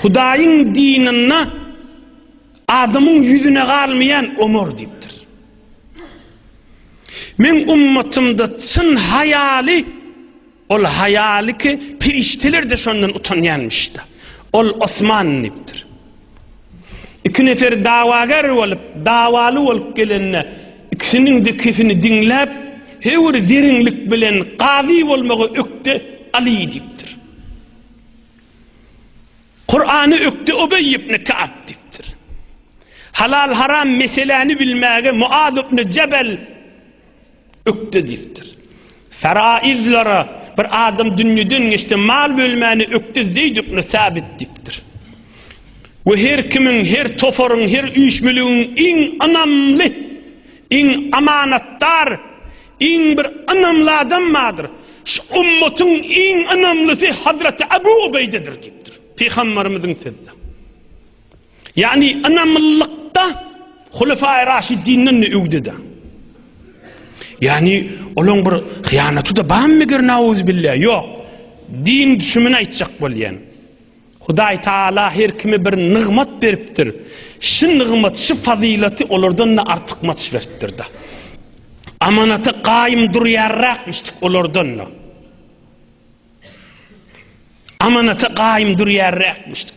Hudaýyň dininde adamyň ýüzüne galmaýan Omar diýipdir. Men ummatymda çyn haýaly ol haýaly ki, perişdeler-de şondan utanýanmyş-da. Ol Osman diýipdir. Iki nefer dawager bolup, dawaly bolup gelende, ikisiniň-de kesini diňläp, Hewür zeriňlik bilen gazy bolmagy ökde Aly diýipdir. Kurany ökde Ubeý ibn Ka'b diýipdir. Halal-haram meseläni bilmäge Muaz ibn Jebel Ökde diýipdir. Faraizlere bir adam dünýeden geçse mal bölmäni ökde Zeýd ibn Sabit diýipdir. We her kimiň, her toparyň, her üýşmeligiň iň ynamly, iň amanatdar, iň bir ynamly adam bardyr. Şu ümmetin iň ynamlysy Hazreti Abu Ubeýdedir diýipdir. Pygamberimiziň sözde. Ýagny ynamlylykda Hulefaýy Raşidinden-de öwdede. Ýagny olaň bir hyýanaty-da barmy meger nauzubilla? Ýok. Din düşümini aýtjak bolýan. Hudaý Taala her kime bir nygmat beripdir. Şu nygmat, şu fazylaty olardan-da artykmaç beripdir-de. Amanata gaýym durýarrakmyşdyk olardan-da. Amanata gaýym durýarrakmyşdyk.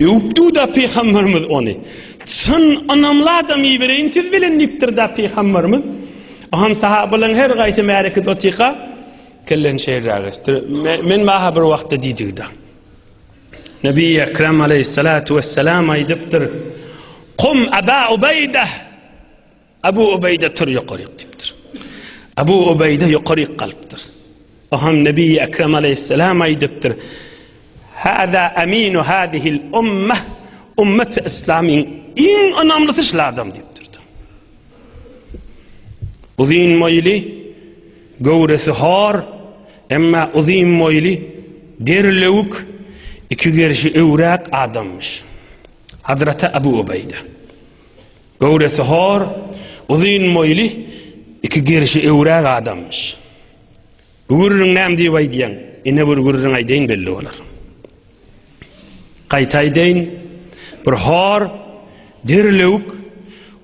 Öwüpdi-de pygamberimiz ony. Çyn ynamly adam ibereýin siz bilen diýipdir-de pygamberimiz. Aham sahabalaryň her gaýsy märekede otyka kelleni şeýleräk esdir. Men maha bir wagtda diýdigi-de. Nebi Ekrem aleýhissalatu wesselam aýdypdyr. Kum Aba Ubeýde! Abu Ubeýde tur ýokaryk diýipdir. Abu Ubeýde ýokaryk galypdyr. Ohan Nebi Ekrem aleyhisselam aýdypdyr. Hada aminu hadihil ummah ummet islamyň iň ynamlysy şul adam diýipdir. Uzyn moýly, göwresi hor, emma uzyn moýly, derlewük, iki gerşi öwräk adamyş. Hazreti Abu Ubeýde. Göwresi hor, uzyn boýly, iki gerşi öwräk adamyş. Bu gürrüň näme diýip aýdýaň? Ine bir gürrüň aýdaýyn belli bolar. Gaýta aýdaýyn, bir hor, derlewük,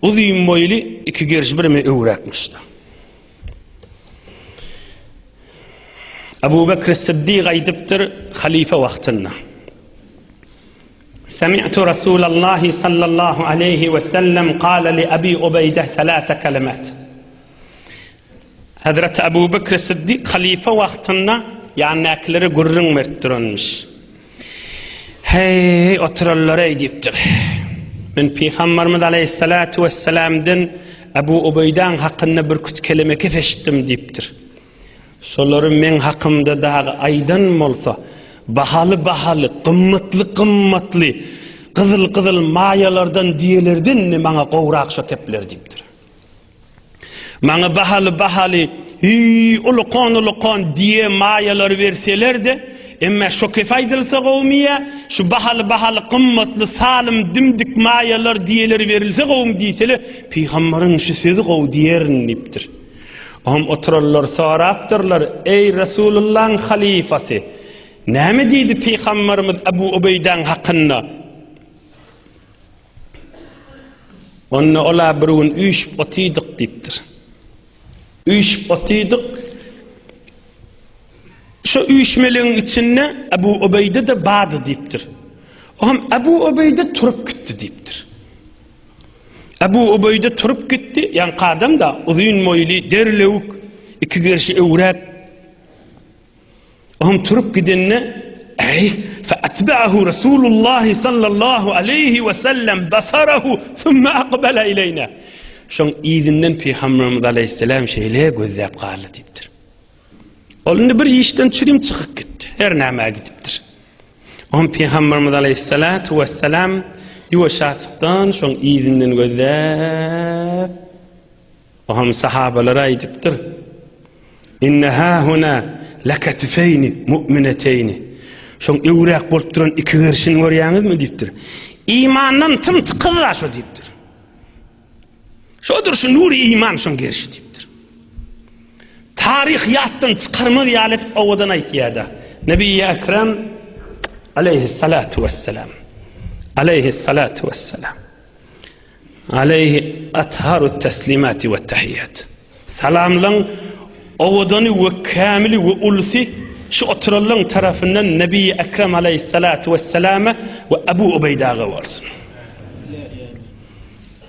uzyn boýly iki gerşi bireme öwräkmiş. Abu Bekr Siddiq aýdypdyr, halyfa wagtynda. Semi'tu Rasulallahi sallallahu aleýhi we sellem kale li Abi Ubeýdeh selase kelemat. Hezreti Abu Bekr Siddik halife wagtynda ýanydakilere gürrüň berip duranmyş. Heý, oturanlareý diýipdir. Men Pygambarymyz aleýhissalatu wessalamdan Abu Ubeýdäň hakynda birküç keleme gep eşitdim diýipdir. Şolary meň hakymda dagy aýdan bolsa, bahaly-bahaly, gymmatly-gymmatly, gyzyl-gyzyl maýalardan, diýelerden indi maňa gowy rakşa kepler diýipdir. Maňa bahaly-bahaly, ulukon-ulukon diýe maýalary berseler-de, emme şo kefe aýdylsa gowumy ýa, şu bahaly-bahaly, gymmatly, salym, dimdik maýalar diýeleri berilse gowumy diýseler, pygamberiň şu sözi gowy diýerin diýipdir. Oňam oturanlar sorapdyrlar, Eý, Resulullaň halyfasy! Näme diýdi pygamberimiz Abu Ubeýdäň hakynda? Onda ol-a bir gün üýşüp otydyk diýipdir. Üýşüp otydyk. Şu üýşmeligiň içinde Abu Ubeýde-de bady diýipdir. Oňam Abu Ubeýde turup gitdi diýipdir. Abu Ubeýde turup gitdi, ýaňky adam-da, uzyn moýly, derlewük, iki gerşi öwräp. Oňam turup gidende, Äý, fe atba'ahu Rasulullah sallallahu aleýhi we sellem basarahu summa aqbala ileýna. Şoň yzyndan Pygamberimiz aleýhissalam şeýle gözläp galdy diýipdir. Ol indi bir işden çürim çykyp gitdi. Her nämä gidipdir. On Pygamberimiz aleyhissalatu vesselam ýuwaşaçykdan şoň yzyndan gözläp Ohm sahabalara aýdypdyr. Inne hahuna lakatifeyni mu'mineteyni. Şoň öwräk bolup duran iki gerşini görýäňizmi diýipdir. Imandan tym tykyz şu diýipdir. Şodur şu nur iman şoň gerişi diýipdir. Taryh ýatdan çykarmak ýaly etip owadan aýtýar-da. Nebi Ekrem aleyhissalatu vesselam. Aleyhissalatu vesselam. Aleyhi atharu teslimati ve tahiyyat. Salamlaň owadany we kämili we ulsy şu oturanlaň tarapyndan Nebi Ekrem aleyhissalatu vesselama we Abu Ubeydaga bolsun.